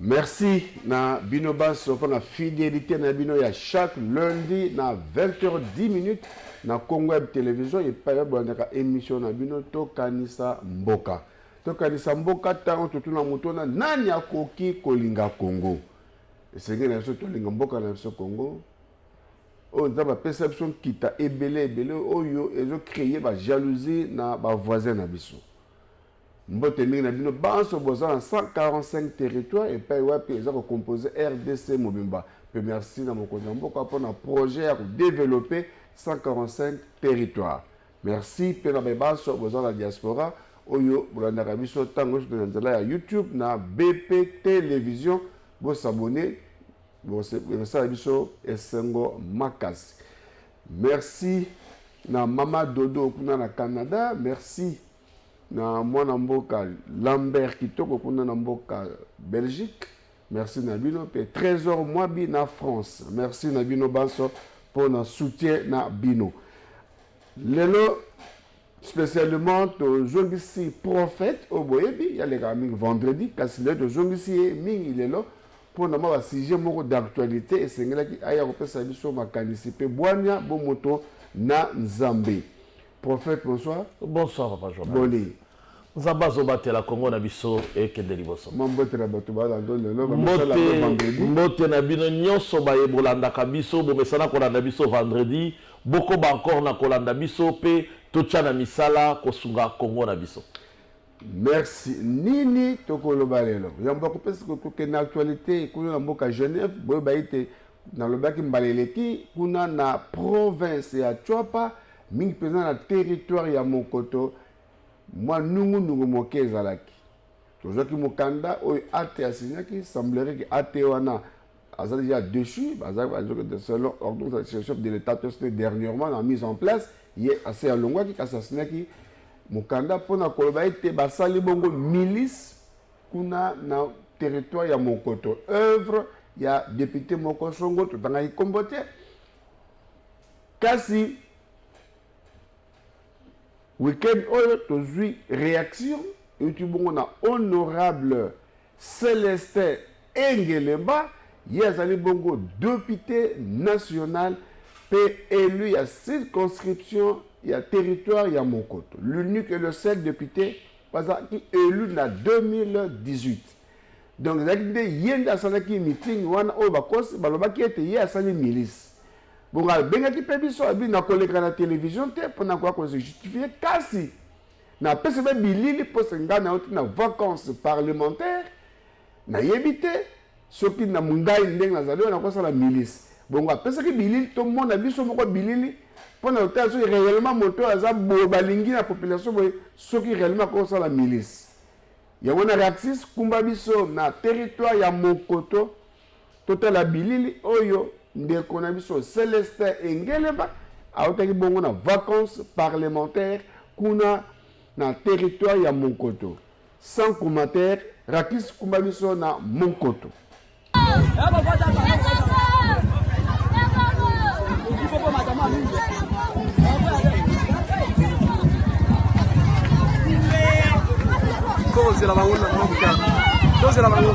Merci na bino banso mpo na fidelite na bino ya chaque lundi na 20h10 na Congo Web Television epai bolandaka emission na bino tokanisa mboka. Tokanisa mboka ntango totuna moto wana nani akoki kolinga Congo. Esengeli na biso tolinga mboka na biso Congo oyo nzambe apesa biso nkita ebele ebele oyo ezokreye bajalousie na bavoisin na biso Mbote mingi na bino banso boza na 145 territoire epai wapi eza ko compose rdc mobimba mpe merci na mokonzi ya mboka mpo na projet ya kodevelope 145 territoire merci mpe na baye banso boza na diaspora oyo bolandaka biso ntango nyonso na nzela ya youtube na bp television bosabone bosala biso esengo makasi merci na mama dodo kuna na canada merci na mwana mboka Lambert Kitoko kuna na mboka Belgique merci na bino pe Trésor Mwabi na France merci na bino banso mpo na soutien na bino lelo spécialement tozongisi prophète oyo boyebi yalekaka mingi vendredi kasi lelo tozongisi ye mingi lelo mpo na mwa basujet moko d'actualité esengelaki aya kopesa biso makanisi mpe bwania bomoto na nzambe Prophète, bonsoir. Bonsoir, papa journaliste. Boni. nzambe azobatela kongo na biso ekende liboso mbote na bino nyonso baye bolandaka biso bomesana kolanda biso vendredi bokoba encore na kolanda biso mpe totya na misala kosunga kongo na biso Merci. Nini tokoloba lelo? Yambo akopesa koke na actualité kuna na mboka Genève, boye baite nalobaki mbala eleki kuna na province ya Chwapa mingi mpenza na territoire ya Mokoto mwa nungunungu moke ezalaki. Tozwaki mokanda oyo ate asinyaki, semblerait ke ate wana aza déjà dessus baza de selon ordre de chef de l'état to c'était dernièrement na mise en place ye ase alongwaki kasi asinaki mokanda mpo na koloba ete basali bongo milice kuna na territoire ya monkoto œuvre ya député moko songo totangaki nkombo te kasi Week-end oyo tozui reaction euti bongo na honorable Celestin Engelemba, ye azali bongo depute national mpe élu ya circonscription ya territoire ya Monkoto. L'unique et le seul député bazalaki élu na 2018. Donc ezalaki nde ye nde asalaki meeting wana oyo bakosi balobaki ete ye asali milice. Bongo abengaki mpe biso, abi nakoleka na television te mpo nakoya koze justifie, kasi napesi mpe bilili mpo se ngai na yo ti na vacance parlementaire nayebi te soki na ngai ndenge nazali oyo nakosala milice bongo apesaki bilili tomona biso moko bilili mpo na kotala soki réellement moto oyo aza boye balingi na population boye soki réellement akosala milice yango na reaxis kumba biso na territoire ya mokoto Totala bilili oyo ndeko na biso Celestin Engeleba autaki bongo na vacances parlementaires kuna na territoire ya Monkoto. Sans commentaire, Rakis kumba biso na Monkoto. Tozela bango na tozela bango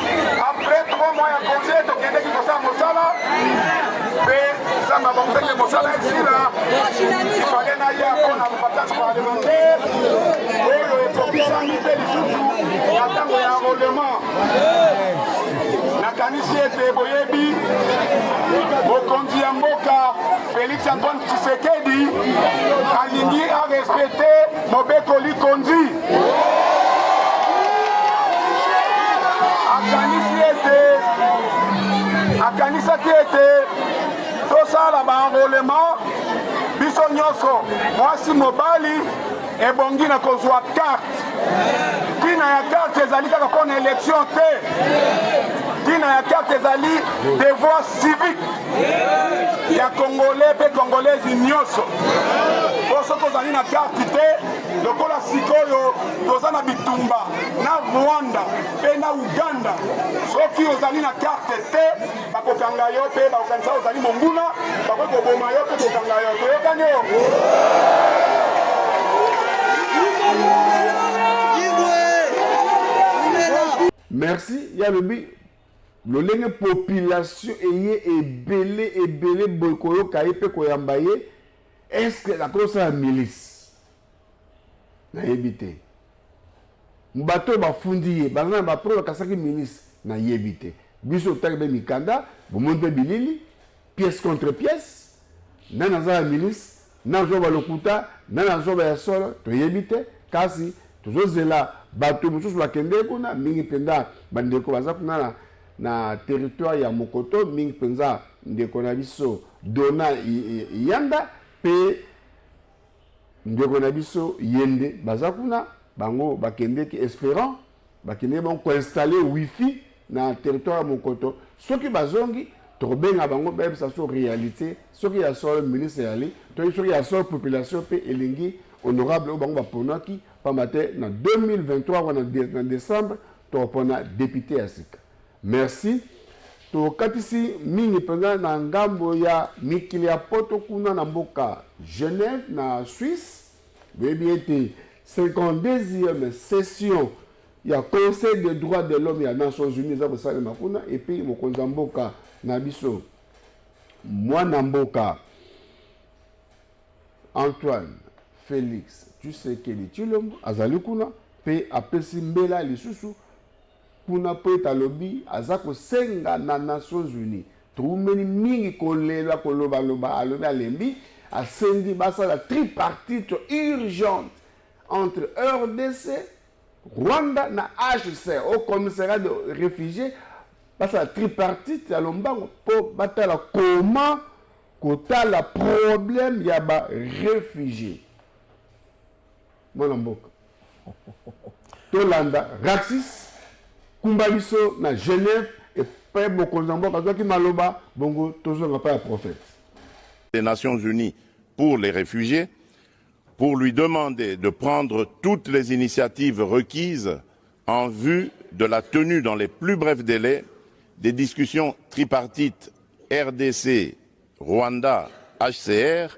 Après trois mois ya congé tokendeki kosala mosala mpe nzambe abongisaki mosala esila ifale na ya mpo na vacances parlementaire oyo ekokisami mpe lisusu na ntango ya enrôlement nakanisi ete boyebi mokonzi ya mboka Félix Antoine Tshisekedi alingi arespecte Mobeko likonzi akanisi ete akanisaki ete tosala baenrolement biso nyonso mwasi mobali ebongi na kozwa karte ntina ya karte ezali kaka mpo na elektio te ntina ya karte ezali devoir civique ya congolais mpe congolaise nyonso mpo soki ozali na karte te lokola sikoyo toza na bitumba na rwanda mpe na uganda soki ozali na karte te bakokanga yo mpe bakokanisa ozali monguna bakoki koboma yo mpe kokanga yo toyokani yo merci ya lobi Lolenge population eye ebele ebele boye koyoka ye pe koyamba ye est ce que akosala milice nayebi te bato oyo bafundi ye baza na bapreuve akasaki milice nayebi te biso otali mpe mikanda bomoni mpe bilili pièce contre pièce nani aza na milice Nazo ba lokuta na nazo ba ya solo toyebi te kasi tozozela bato mosusu bakende kuna mingi mpenza bandeko baza kuna na, na territoire ya mokoto mingi mpenza ndeko na biso dona yanda mpe ndeko na biso yende baza kuna bango bakendeki esperant bakendeki bango koinstalle wifi na territoire ya mokoto soki bazongi tokobenga bango bayebisa so réalité soki ya solo ministre yali toyebi soki ya solo population mpe elingi honorable oyo bango baponaki mpamba te na 2023 wana na décembre tokopona depute ya sika merci tokatisi mingi mpenza na ngambo ya mikili ya poto kuna na mboka genève na suisse Boyebi ete 52e session ya Conseil des droits de l'homme ya Nations Unies eza kosalema kuna, epuis mokonzi ya mboka na biso mwana mboka Antoine Felix Tshisekedi Tshilombo azali kuna mpe apesi mbela lisusu Kuna po ete alobi aza kosenga na Nations Unies. Towumeli mingi kolela, koloba loba, alobi alembi, asengi basala tripartite urgente entre rdc, Rwanda na HCR, Haut Commissariat de Refugies, basala tripartite ya lombango po batala comment kotala problème ya ba refugies. mwana mboka tolanda raxis kumba biso na genève epai mokonzi ya mboka azwaki maloba bongo tozonga epai ya prophète des nations unies pour les réfugiés pour lui demander de prendre toutes les initiatives requises en vue de la tenue dans les plus brefs délais des discussions tripartites RDC, Rwanda, HCR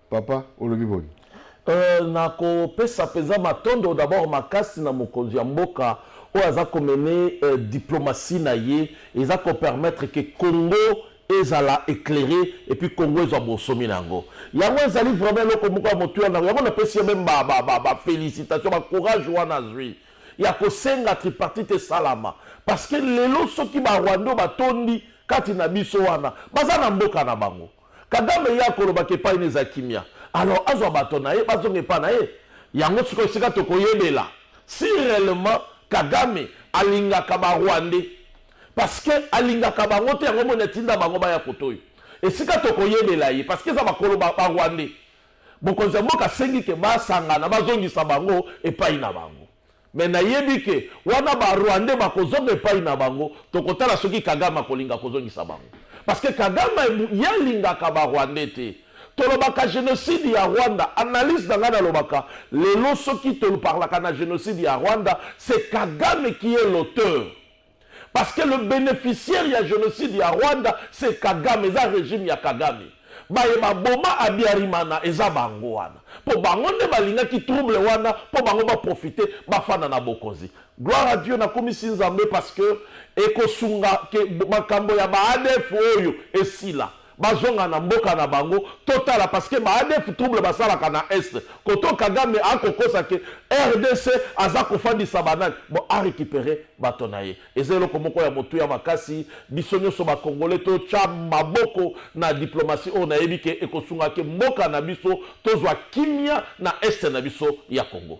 Papa, olobi boni? Euh, na kopesa mpenza matondo d'abord makasi na mokonzi ya mboka oyo aza komene euh, diplomatie na ye eza kopermettre ke congo ezala éclairé et puis congo ezwa bonsomi na yango yango ezali vraiment eloko moko ya motuya na yango napesi ye meme bafélicitation bacourage wana azwi ya kosenga tripartite esalama parce que lelo soki barwando batondi kati na biso wana baza na mboka na bango Kagame ye akoloba ke epai ne eza kimia alors azwa bato na ye bazonga epai na ye yango sikoyo esika tokoyebela si reellement Kagame alingaka ba rwandais parce que alingaka bango te yango omoni atinda bango baya kote oyo esika tokoyebela ye parce que eza bakolo ba rwandais mokonzi ya mboka asengi ke basangana bazongisa bango epai na bango Mais nayebi que wana ba rwandais bakozonga epayi na bango, tokotala soki kagame akolinga kozongisa bango. Parce que kagame ye alingaka ba rwandais te. Tolobaka genocide ya rwanda, analyse na ngai nalobaka lelo soki tolparlaka na genocide ya rwanda c'est kagame qui est l'auteur parce que le bénéficiaire ya génocide ya rwanda c'est kagame eza régime ya kagame baye baboma abiarimana eza bango wana mpo bango nde balingaki trouble wana mpo bango baprofite bafanda na bokonzi gloire à dieu nakumisi nzambe parce que ekosunga ke makambo ya baadf oyo esila Bazonga na mboka na bango totala parce que ba adf trouble basalaka na est koto kagame akokosa ke rdc aza kofandisa ba nani bon a recuperer bato na ye eza eloko moko ya motuya makasi biso nyonso ba congolais totya maboko na diplomatie oyo nayebi ke ekosunga ke mboka na biso tozwa kimia na est na biso ya congo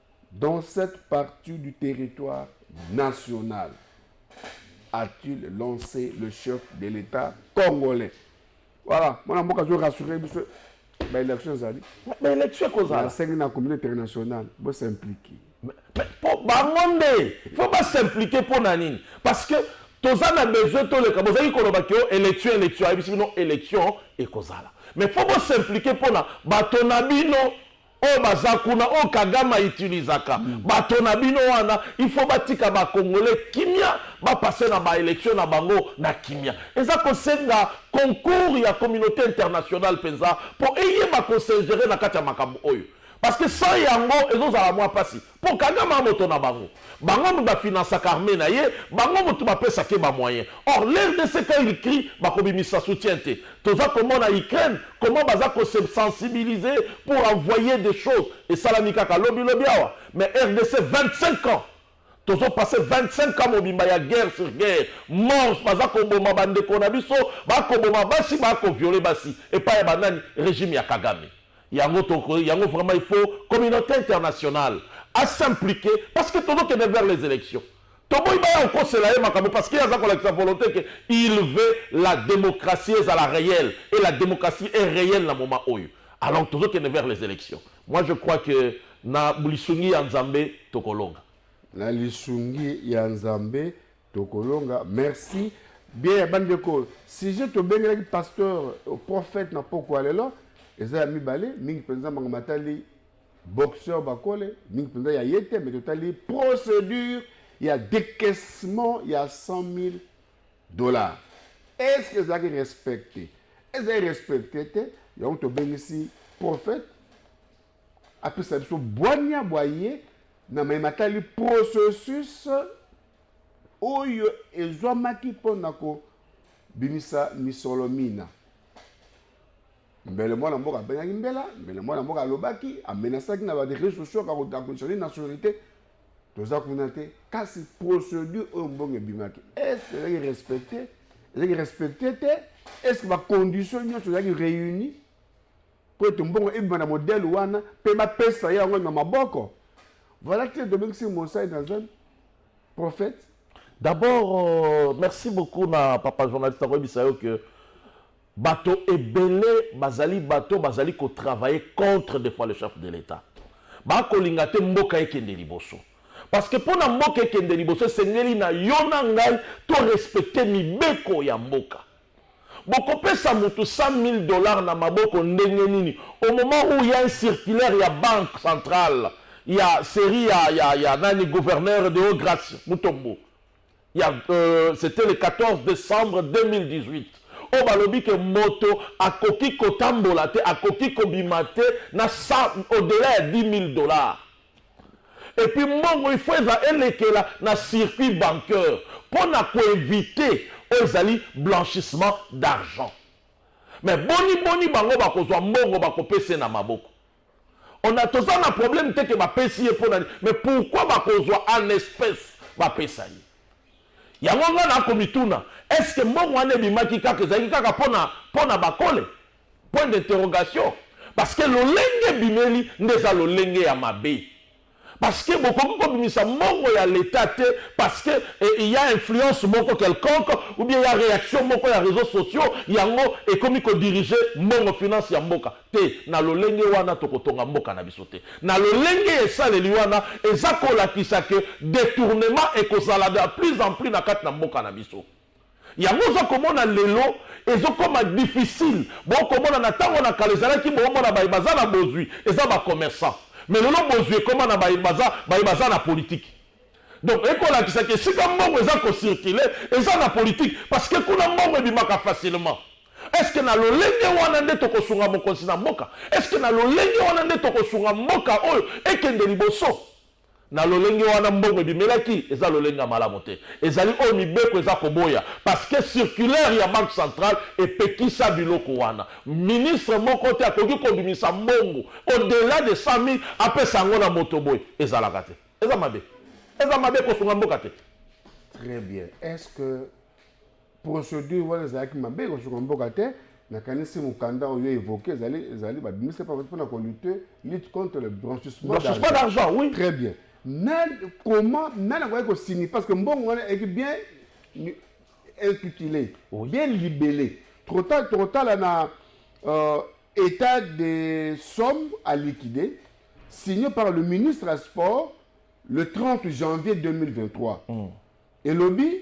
Dans cette partie du territoire national, a-t-il lancé le chef de l'Etat congolais. Voilà, mwana mboka azo rassurer biso baélection ezali baélection ekozala nasengi na communauté internationale bosimplike po bango nde fo basimplike mpo na nini parce que toza na besoin toleka bozalaki koloba ke élection élection ayebisi bino élection ekozala mais fo bosimplike mpo na bato na bino oyo baza kuna oyo kagame autilisaka mm. bato na bino wana il faut batika bakongole kimia bapase na baelektio na bango na kimia eza kosenga concours ya communauté internationale mpenza mpo eyeba kosengere na kati ya makambo oyo parce que sans yango ezozala mwa mpasi Po kagama moto na bango. Bango mutu ba financaka armee na ye, bango mutu ba pesaka ye ba moyens. Or l'rdc quand il crie bako bimisa soutien te. Toza ko mona Ukraine comment baza ko se sensibiliser pour envoyer des choses. Esalami kaka lobi lobi awa. Mais rdc 25 ans tozo passer 25 ans mobimba ya guerre sur guerre, morts, baza ko boma ba ndeko na biso, ba ko boma basi, ba ko violer basi. Epai ya ba nani? Regime ya kagame. Yango toko yango vraiment il faut communauté internationale a s'impliquer parce que tozo kende vers les élections. Toboyi baya okosela ye makambo parce que aza kolakisa volonté que il veut la démocratie ezala réelle et la démocratie est réelle na moment oyo. Alors tozo kende vers les élections. Moi je crois que na lisungi ya Nzambe tokolonga. Na lisungi ya Nzambe Tokolonga, merci. Bien ya bandeko, sujet tobengelaki pasteur euh, prophète na pokwa lelo eza ya mibale mingi mpenza manga matali boxeur bakole mingi mpenza ya ye te mais totali procédure ya décaissement ya 100 000 dollars est ce que ezalaki respecte ezali respecte te yango tobengisi prophète apesa biso bwania bwa ye na mai matali processus oyo ezwamaki mpo na kobimisa misolo mina mbele mwana mboka abengaki mbela mbele mwana mboka alobaki amenasaki na bareseau sociaux akodeconditionne nationalité toza kuna te kasi procédure oyo mbongo ebimaki estce ezalaki respecte ezalaki respecte te estce bacondition nyonso ezalaki réuni mpo ete mbongo ebima na modele wana mpe bapesa ye yango na maboko voilà te domingisi mosai na zone prophète d'abord euh, merci beaucoup na papa journaliste akoyebisa yo que bato ebele bazali bato bazali kotravaille contre des fois le chef de l'état bakolinga te mboka ekende liboso parce que mpo na mboka ekende liboso esengeli na yo na ngai torespecte mibeko ya mboka Bokopesa mutu 100.000 dollars na maboko ndenge nini au moment où il ya un circulaire ya banque centrale ya serie ya ya ya nani gouverneur de haut grace Mutombo ya euh, c'était le 14 décembre 2018 oyo balobi ke moto akoki kotambola te akoki kobima te na 100 au-delà ya 10.000 dollars Et puis mbongo il faut eza elekela na circuit bancaire mpo na koevite oyo ezali blanchissement d'argent. Mais boni boni bango bakozwa mbongo bakopesa ye na maboko? On a toza na problème te ke bapesi ye mpo na nini, mais pourquoi bakozwa en espèce bapesa ye? Yango nga nakomituna, est-ce que mbongo wana ebimaki kaka ezalaki kaka mpo na mpo na Bakole? Point d'interrogation. Parce que lolenge ebimeli nde eza lolenge ya mabe. Parce que bokoki kobimisa mbongo ya l'Etat te parce que eh, il y a influence moko quelconque ou bien il y a réaction moko ya réseaux sociaux yango ekomi ko diriger mbongo finance ya mboka te na lolenge wana tokotonga mboka na biso te na lolenge ya esaleli wana eza kolakisa que détournement ekozala de plus en plus na kati na mboka na biso yango oza komona lelo ezokoma difficile bokomona na ntango na kala ezalaki boomona baye baza na bozwi eza bacommerçant mais lelo bozwi ekoma na baye baza, baye baza na politiki donc ekolakisaki esika mbongo eza kocircule eza na politiki parce que kuna mbongo ebimaka facilement eske na lolenge wana nde tokosunga mokonzi na mboka eske na lolenge wana nde tokosunga mboka oyo ekende liboso Na lolenge wana mbongo ebimelaki eza lolenge ya malamu te. Ezali oyo mibeko eza koboya parce que circulaire ya banque centrale epekisa biloko wana. Ministre moko te akoki kobimisa mbongo au delà de 100.000 apesa yango na moto boye. Ezalaka te. Eza mabe. Eza mabe ekosunga mboka te. Très bien. Est-ce que procedure wana ezalaki mabe kosuka mboka te nakanisi mokanda oyo évoqué ezali ezali babimisi mpo mpona kolute lutte contre le blanchissement d'argent oui très bien na comment nani akoki kosini parce que mbongo wana eki bien intitulé bien libellé tokotala na euh, état des sommes à liquider signé par le ministre à sport le 30 janvier 2023 mm. elobi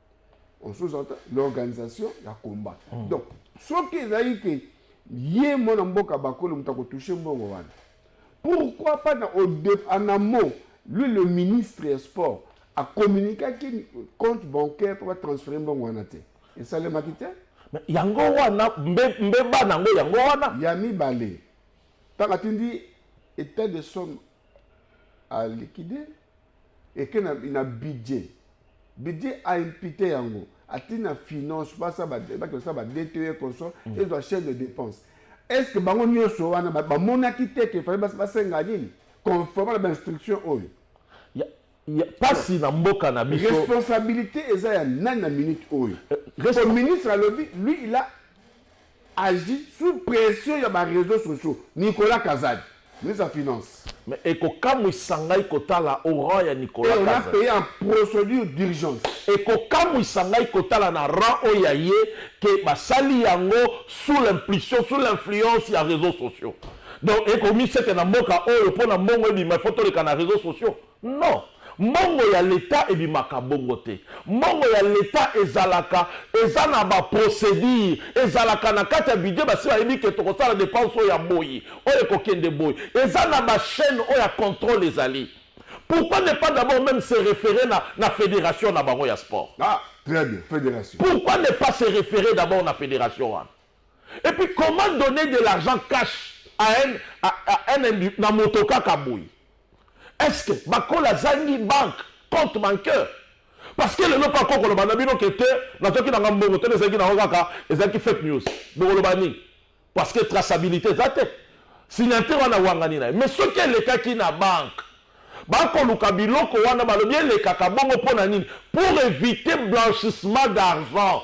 on sous-entend l'organisation ya combat mm. donc soki ezali ke ye mwana mboka bakolo moto akotouche mbongo wana pourquoi pas na en amont lui le ministre ya sport acommuniquaki compte bancaire mpo batransfere mbongo wana te esalemaki te yango wana mbeba na yango yango wana ya mibale ntango atindi état de somme à liquider eke na, na budget budget a impute yango ati na finance basa bakende kosala ba dte consort mm. ezwa chaîne de dépense est ce que bango nyonso wana bamonaki te ke fale basenga nini conforme na bainstruction oyo mpasi na mboka na biso responsabilité eza ya nani na minute oyo euh, ministre alobi lui il a agit sous pression ya ba reseaux sociaux Nicolas Kazadi ministre ya finance. Mais ekokamwisa ngai kotala au rang ya Nicolas Kazadi. Et on a paye en procedure d'urgence. Ekokamwisa ngai kotala na rang oyo ya ye que basali yango sous l'impulsion, sous l'influence ya reseaux sociaux. Donc ekomi seke na mboka oyo mpo na mbongo ebima il faut toleka na reseaux sociaux. Non mbongo ya l'etat ebimaka bongo te mbongo ya l'etat ezalaka eza na ba procedure ezalaka na kati ya budget basi bayebi ke tokosala depense oyo ya boyi oyo ekokende boyi eza na ba chaine oyo ya controle ezali pourquoi ne pas d'abord meme se referer na na federation na bango ya sport ah très bien federation pourquoi ne pas se referer d'abord na federation wana et puis comment donner de l'argent cash à un, à, à un na moto kaka boyi est ce que bakola azangi banque compte banqueur parce que lelo mpe akoki koloba na bino ke te nazwaki nanga mbongo te ezalaki nango kaka ezalaki fake news bokoloba nini parce que traçabilité eza te signature wana awangani na ye mais soki elekaki na banque bakoluka biloko wana balobi elekaka bongo mpo na nini pour éviter blanchissement d'argent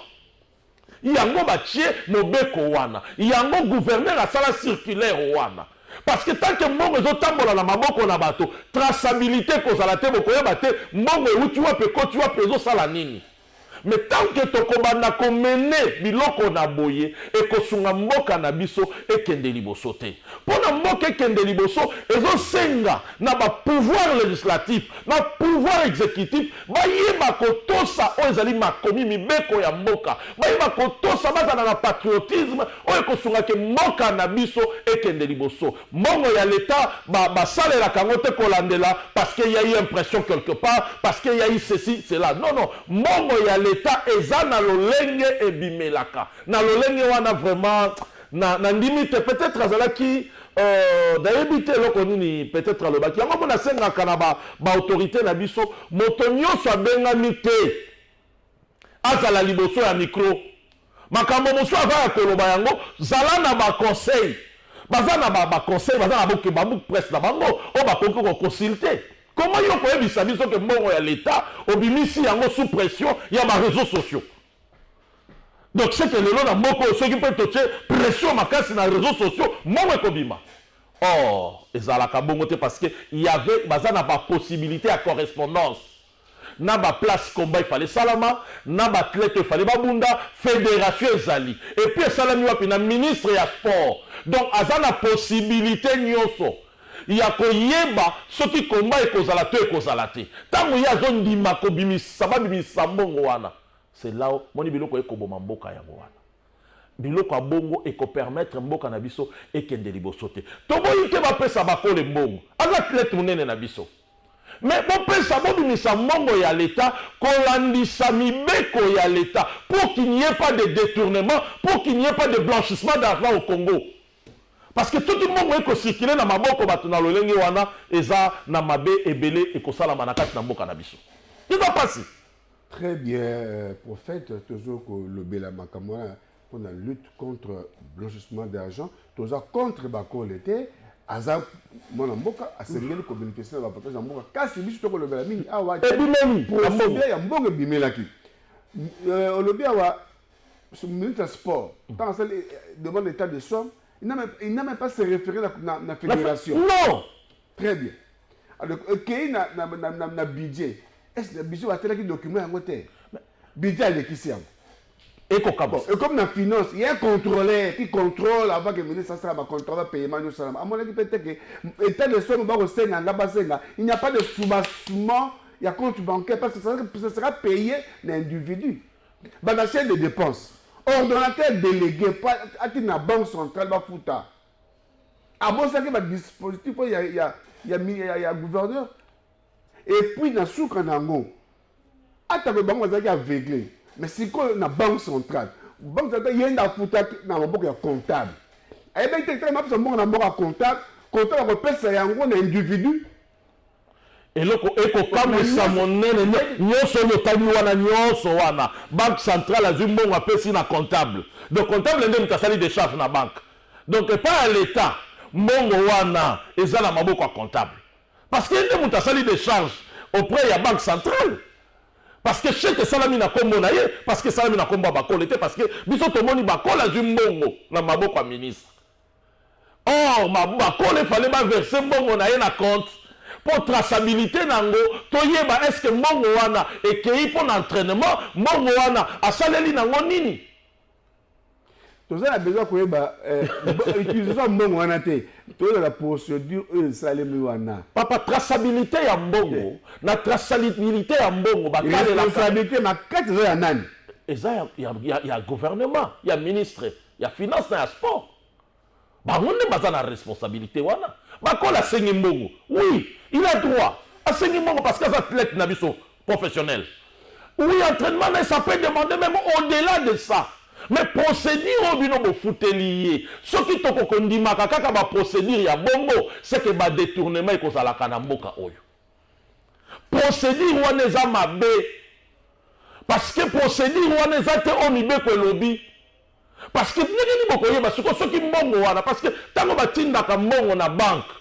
yango batie mobeko wana yango gouverneur asala circulaire wana parce que tant que mbongo ezotambola na maboko na bato traçabilité ekozala te bokoyeba te mbongo euti wapi ekoti wapi ezosala nini me tant que tokobanda komene biloko na boye ekosunga mboka na biso ekende liboso te mpo na mboka ekende liboso ezosenga na ba pouvoir legislatif na pouvoir executif bayeba kotosa oyo ezali makomi mibeko ya mboka bayeba kotosa bazala na patriotisme oyo ekosunga ke mboka na biso ekende liboso mbongo ya leta basalelaka yango te kolandela parce que ya eu impression quelque part parce que ya eu ceci cela non non mbongo ya leta eza na lolenge ebimelaka na lolenge wana vraiment Na, na ndimi te, peut-etre azalaki Euh, nayebi te eloko nini peut-être alobaki yango mpo nasengaka na baautorité ba na biso moto nyonso abengami te azala liboso ya mikro makambo mosusu aza ya koloba yango zala na baconseil baza na baconseil baza na boke babook presse na bango oyo bakoki koconsulte koma yo koyebisa biso ke mbongo ya leta obimisi yango sous pression ya bareseau sociaux donc seke lelo na mboka oyo soki mpe totie pression makasi na réseau sociaux mbongo ekobima or ezalaka bongo te parce que y avait baza na bapossibilité ya correspondance na baplace combat ifale esalama na baathlète ifale babunda fédération ezali epuis esalami wapi na ministre ya sport donc aza na possibilité nyonso ya koyeba soki combat ekozala to ekozala te ntango ye azondima kobimisisa babimisisa mbongo wana c'est là moni biloko ekoboma mboka yango wana biloko ya bongo ekopermettre mboka na biso ekende liboso te toboyi te bapesa bakole mbongo aza atlete monene na biso me bopesa bobimisa mbongo ya leta kolandisa mibeko ya leta pour qu'il n'y ait pas de détournement pour qu'il n'y ait pas de blanchissement d'argent au congo parce que soki mbongo ekocircule na maboko bato na lolenge wana eza na mabe ebele ekosalama na kati na mboka na biso eza mpasi Très bien, euh, prophète, tozo kolobela makambo wana mpo na lutte contre blanchissement d'argent toza contre bakole te aza mwana mboka asengeli kobénéficie na bapatage ya mboka kasi biso tokolobela mingi awa ebimeli ya mbongo ebimelaki euh, olobi awa ministre ya sport mm. ntango asali euh, demande état de somme il n'a même pas se référé na, na, na fédération non Très bien. Alors, euh, kei na, na, na, na, na budget. Est-ce que biso atalaki document yango te? Budget alekisi yango. ekokaba bon, ekomi na finance ye contrôleur qui contrôle avant que ministre asala bacontrôle bapayement nyonso salama amonaki mpe te ke état de somme bakosenga nga basenga il n'y a pas de soubassement ya compte bancaire parce que ça sera payé na individu bana chaine de dépense ordonnateur délégué ati na banque centrale bafuta abosaki ba dispositif oyo ya, ya, ya, ya, ya gouverneur epuis na suka na yango atako bango bazalaki aveugle mais sikoyo na banque centrale banque centrale ye nde afutaki na maboko ya comptable ayebaki te ntango mapesa mbongo na maboko ya comptable comptable akopesa yango na individu eloko ekokamwisa monene nyonso oyo otali wana nyonso wana banque centrale azwi mbongo apesi na comptable donc comptable nde moto asali decharge na banque donc epai ya leta mbongo wana eza na maboko ya comptable parce que nde moto asali decharge auprès ya banque centrale parce que chèque esalami na nkombo na ye parce que esalami na nkombo ya bakole te parce que biso tomoni bakole azwi mbongo na maboko ya ministre Or ma bakole fallait ba verser mbongo na ye na compte mpo traçabilité na yango toyeba est-ce que mbongo wana ekei mpo na entraînement, mbongo wana asaleli na yango nini? toza na besoin koyeba eh, utilisation ya mbongo wana te toyeba procédure oyo esalemi wana papa traçabilité ya mbongo eh. na traçabilité ya mbongo bakalelaka makasi eza ya nani eza ya, ya, ya, ya gouvernement ya ministre ya finance na ya sport bango nde baza na responsabilité wana bakola asengi mbongo oui il a droit asengi mbongo parce que aza athlète na biso professionnel oui entraînement na ye ça peut demander même au-delà de ça mais procédure oyo bino bofuteli ye soki toko kondimaka kaka baprocédure ya bongo seke badetournement ekozalaka na mboka oyo procedure wana eza mabe parce que procedure wana eza te oyo mibeko elobi parce que ndenge nini bokoyeba siko soki mbongo wana parce que ntango batindaka mbongo na banke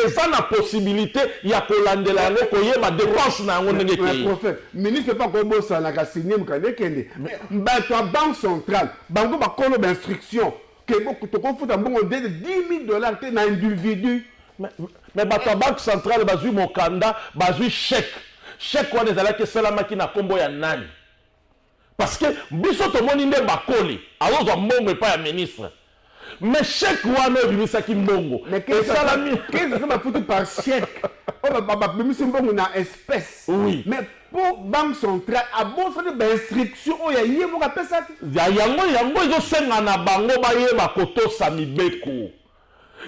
eza na possibilité ya kolandela yango koyeba dépense na yango ndenge ekei ministre mpe akobosanaka signe mokanda ekende bato ya banque centrale bango bakolo bainstruction Keboko toko futa mbongo de 10000 dollars te na individu. Mais, mais bato ya banque centrale bazwi mokanda bazwi chèque chèque wana ezalaki esalamaki na nkombo ya nani parce que biso tomoni nde bakoli azozwa mbongo epai ya ministre mais chèque wana ebimisaki mbongo esalami bafuti par chèque oyo babimisi mbongo na espèce oui mais po banque centrale abosani ba instruction oyo ya ye moko apesaki ya yango yango ezosenga na bango bayeba kotosa mibeko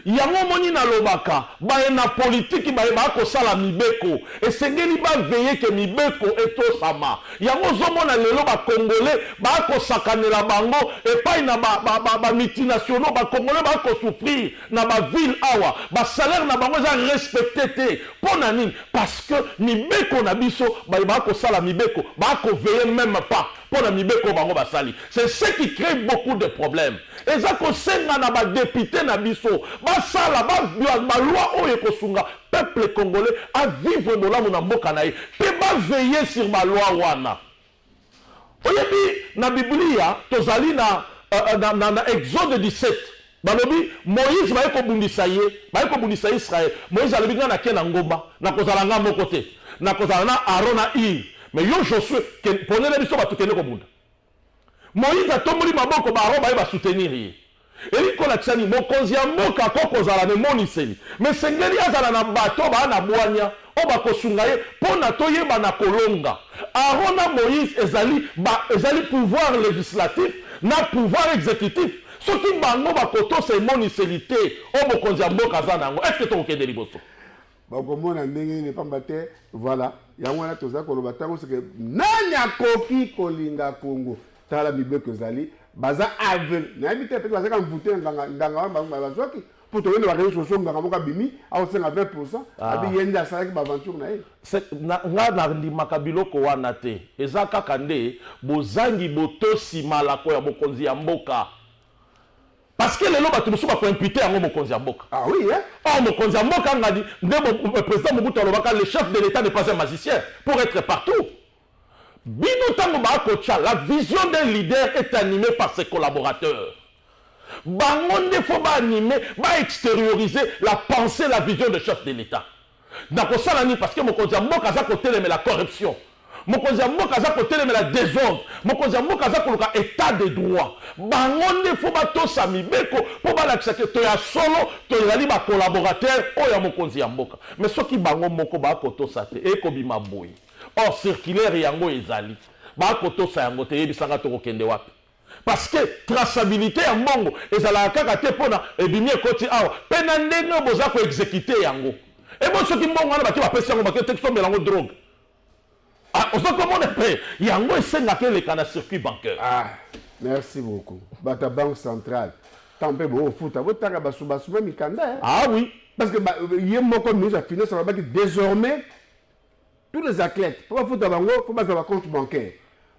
yango omoni nalobaka baye na politiki baye baya kosala mibeko esengeli baveye ke mibeko etosama yango ozomona lelo bakongole baya kosakanela bango epai na bamultinationaux ba, ba, ba bakongole baya kosouffrir na ba ville awa ba salaire na bango eza respecte te pona nini parce que mibeko na biso baye ba kosala mibeko ba ko veiller meme pas pona mibeko bango basali c'est ce qui crée beaucoup de problèmes eza kosenga na ba depute na biso basala ba, ba, ba loi oyo ekosunga peuple congolais a vivre bolamu na mboka na ye pe ba veiller sur ba loi wana Oyebi, na Biblia, tozali na, uh, na, na, na Exode 17. Balobi, Moïse baye kobundisa ye, baye kobundisa Israël. Moïse alobi, ngai nake na ngomba, nakozala ngai moko te. Nakozala na Aaron na Ir. Mais yo Josué, ponela biso bato kende kobunda. Moïse atomboli maboko, ba Aaron baye ba soutenir ye. Elingi kolakisa nini? Mokonzi ya mboka ako kozala na emoniseli, me esengeli azala na bato oyo baa na bwania oyo bakosunga ye mpo na toyeba na kolonga. Aaron na Moïse ezali ba, ezali pouvoir legislatif na pouvoir executif. Soki bango bakotosa emoniseli te oyo mokonzi ya mboka aza na yango, eske tokokende liboso? bakomona ndenge nini pamba te voilà yango wana toza koloba ntango seke nani akoki kolinga kongo tala mibeko ezali baza aveugle nayebi te pete bazaka mvute nganga nganga wana bazwaki mpo toyende bareseau sociaux nganga moko abimi akosenga 20 pourcent ah. abi ye nde asalaki baaventure na ye nga nandimaka biloko wana te eza kaka nde bozangi botosi malako ya bokonzi ya mboka Parce que lelo bato mosusu bako impute yango mokonzi ya mboka. Ah oui hein? Or mokonzi ya mboka ngadi nde euh, président Mobutu alobaka le chef de l'État n'est pas un magicien pour être partout. Bino tango ba kocha la vision d'un leader est animée par ses collaborateurs. Bango nde faut ba animer, ba extérioriser la pensée, la vision de chef de l'État. Nakosala nini parce que mokonzi ya mboka aza kotelemela corruption. Mokonzi ya mboka aza kotelemela desordre. Mokonzi ya mboka aza koluka etat de droit. Bango nde fo batosa mibeko mpo balakisa ke toya solo tozali ba collaborateur oyo ya mokonzi ya mboka. Mais soki bango moko bakotosa te ekobima boye. Or circulaire yango ezali. Bakotosa yango te eyebisa nga tokokende wapi? parce que traçabilite ya mbongo ezalaka kaka te mpona ebimi ekoti awa mpe na ndenge oyo boza ko exekite yango ebo eh, soki mbongo wana bake bapesi yango bake te kisombela yango drogue ah, oza komona mpe yango esengaka eleka na circuit bancaire ah, merci beaucoup bata banque centrale ntango mpe boofuta botanga basubasuba mikanda eh. ah oui parce que ye moko ministre ya finance alobaki désormais tous les athlètes mpo bafuta bango mpo bazwa ba compte bancaire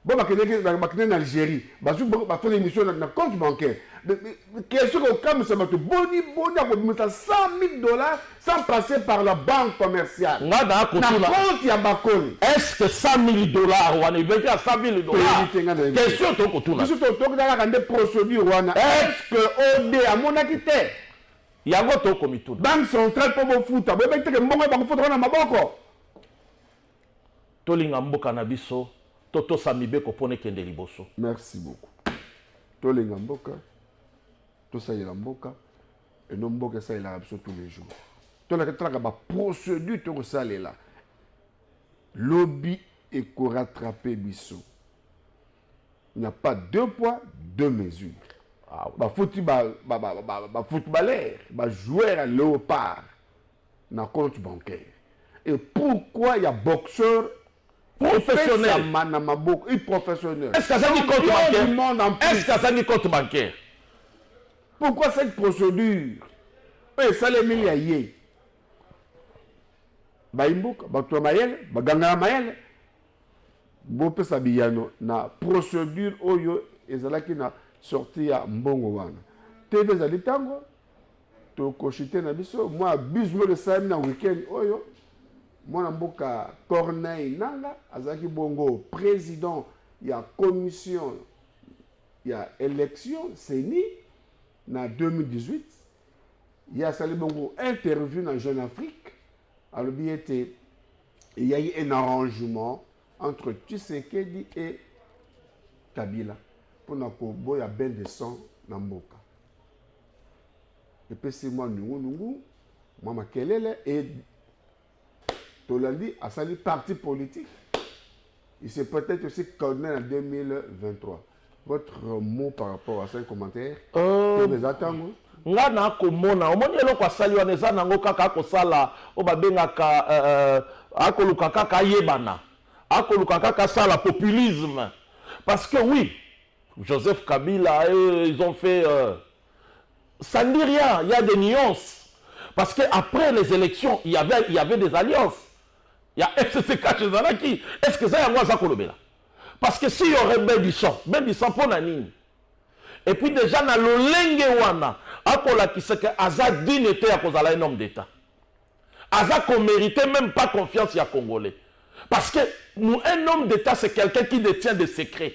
bo bakendeki bakende na algérie bazwi basala émission na compte bancaire question kokamwisa bato boni boni akobimisa 100 000 dollars sans passer par la banque commerciale nga na kotuna compte ya bakoni est ce que 100 000 dollars wana ebeki ya 100 000 dollars question tokotuna biso tokotala kaka nde procédure wana est ce que ode amonaki te Yango to ko mituna. Banque centrale po bo futa, bo beteke mbongo ba ko futa na maboko. Tolinga mboka na biso, to tosa mibeko pona ekende liboso. Merci beaucoup. Tolinga mboka, tosalela mboka, et non mboka esalelaka biso tous les jours. Tolaka talaka ba procédure to kosalela. Lobby et ko rattraper biso. Il n'y a pas deux poids, deux mesures. Ah, ba foutu ba ba ba ba ba footballeur, ba joueur à léopard na compte bancaire. Et pourquoi il y a boxeur professionnel na maboko, il professionnel. Est-ce que ça dit compte bancaire? Est-ce que ça dit compte bancaire? Pourquoi cette procédure? Et ça les milliers. Baimbuka, bato ya mayele, baganga ya mayele, bopesa biyano na procedure oyo ezalaki na sortie ya mbongo wana. TV ezali ntango tokoshite na biso mwa abuse moko esalami na weekend oyo mwana mboka Corneille Nanga azalaki bongo president ya commission ya election CENI na 2018 ye asali bongo interview na Jeune Afrique Alobi ete il y a eu un arrangement entre Tshisekedi et Kabila mpona koboya bain de sang na mboka epesi mwa nungunungu mwa makelele e tolandi asali parti politique Il se peut être aussi calmer en 2023. Votre mot par rapport à ce commentaire euh... les attendre nga na komona omoni eloko asali wana eza nango kaka akosala oyo babengaka euh, euh, akoluka kaka ayebana akoluka kaka asala populisme parce que oui joseph kabila euh, ils ont fait euh, ça ne dit rien il y a des nuances parce que après les élections il y avait, il y avait des alliances ya FCC cash ezalaki est ce que eza yango aza kolobela parce que si y'aurait bebison bebison mpo na nini et puis déjà na lolenge wana akolakisa ke aza digne te ya kozala un homme d'état aza komérite même pas confiance ya congolais parce que un homme d'état c'est quelqu'un qui détient des secrets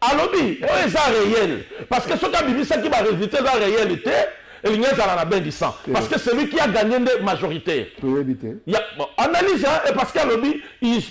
Alobi oyo eza reel parce que soki abimisaki ba resultats eza reel te elingi ezala na bain du sang parce que celui qui a gagné nde majoritaire toyebi te ya bon, analyse hein, et parce que alobi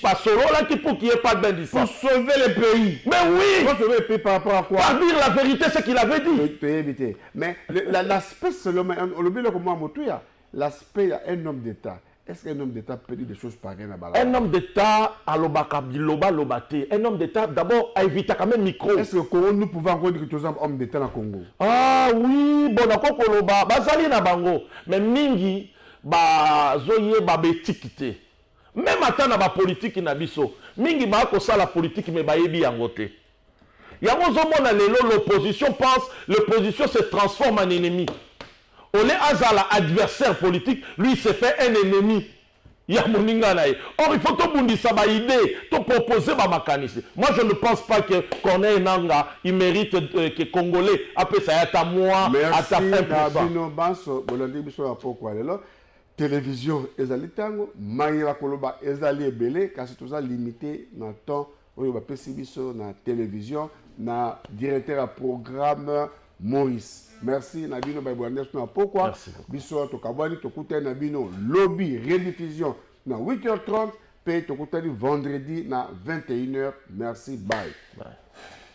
basololaki pour qu'il y ait pas de bain du sang pour sauver le pays mais oui pour sauver le pays par rapport à quoi par dire la vérité ce qu'il avait dit toyebi te mais l'aspect selon olobi eloko mwa motuya l'aspect ya un homme d'état Est-ce qu'un homme d'État peut dire des choses pareilles à Bala Un homme d'État à l'obaka biloba lobate. Un homme d'État d'abord a évité quand même micro. Est-ce que Congo nous pouvons encore dire que tu es un homme d'État na Congo Ah oui, bon na koko loba bazali na bango mais mingi ba zoye ba betikite. Même ata na ba politique na biso mingi ba ko sala politique mais ba yebi yango te. Yango ozomona lelo l'opposition pense l'opposition se transforme en ennemi. Au lieu azala adversaire politique, lui se fait un ennemi ya moninga na ye. Or il faut tobundisa ba idées, to proposer ba makanisi. Moi je ne pense pas que Corneille Nanga il mérite euh, que Congolais apesa ya ta moi ata 1%. Merci na bino banso bolandi biso ya pokwa lelo. Télévision ezali tango, maye bakoloba ezali ebele kasi toza limité na temps oyo bapesi biso na television na directeur ya programme maurice merci na bino baebwandes na pokwa biso tokabwani tokutani na bino lobi rediffusion na 8h30 mpe tokutani vendredi na 21h merci bye, bye.